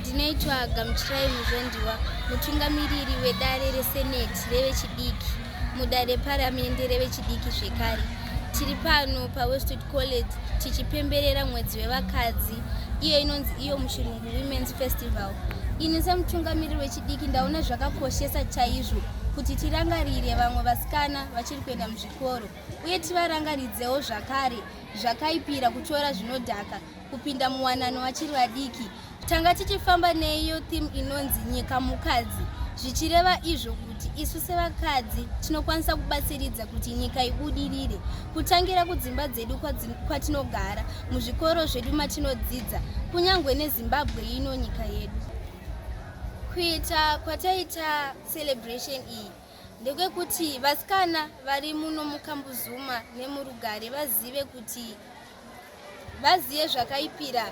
Ndinoitwa Gamuchirai Muzondiwa, mutungamiriri wedare reseneti revechidiki, mudare reparamende revechidiki zvekare. Tiri pano paWestwood College tichipemberera mwedzi wevakadzi iyo inonzi iyo muchirungu Women's Festival. Ini semutungamiriri wechidiki ndaona zvakakoshesa chaizvo kuti tirangarire vamwe vasikana vachiri kuenda muzvikoro uye tivarangaridzewo zvakare zvakaipira kutora zvinodhaka kupinda muwanano vachiri vadiki tanga tichifamba neiyo theme inonzi nyika mukadzi zvichireva izvo kuti isu sevakadzi tinokwanisa kubatsiridza kuti nyika ibudirire kutangira kudzimba dzedu kwatinogara muzvikoro zvedu matinodzidza kunyange nezimbabwe ino nyika yedu kuita kwataita celebration iyi ndekwekuti vasikana vari muno mukambuzuma nemurugare vazive kuti vazive zvakaipira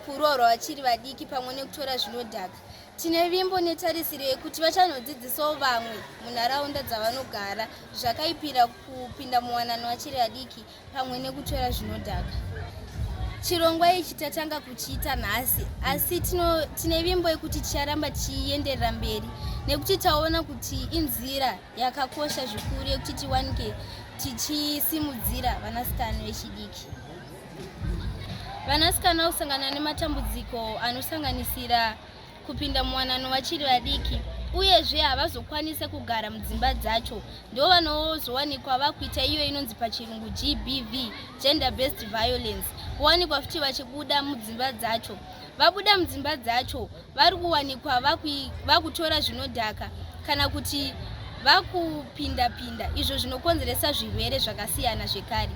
kuroorwa vachiri vadiki pamwe nekutora zvinodhaka tine vimbo netarisiro yekuti vachanodzidzisawo vamwe munharaunda dzavanogara zvakaipira kupinda muwanano vachiri vadiki pamwe nekutora zvinodhaka chirongwa ichi tatanga kuchiita nhasi asi tine vimbo yekuti ticharamba tichienderera mberi nekuti taona kuti inzira yakakosha zvikuru yekuti tiwanike tichisimudzira vanasikana vechidiki vanasikana vakusangana nematambudziko anosanganisira kupinda muwanano vachiri vadiki uyezve havazokwanise kugara mudzimba dzacho ndo vanozowanikwa vakuita iyo inonzi pachirungu gbv gender based violence kuwanikwa futi vachibuda mudzimba dzacho vabuda mudzimba dzacho vari kuwanikwa vakutora zvinodhaka kana kuti vakupinda-pinda izvo zvinokonzeresa zvirwere zvakasiyana zvekare.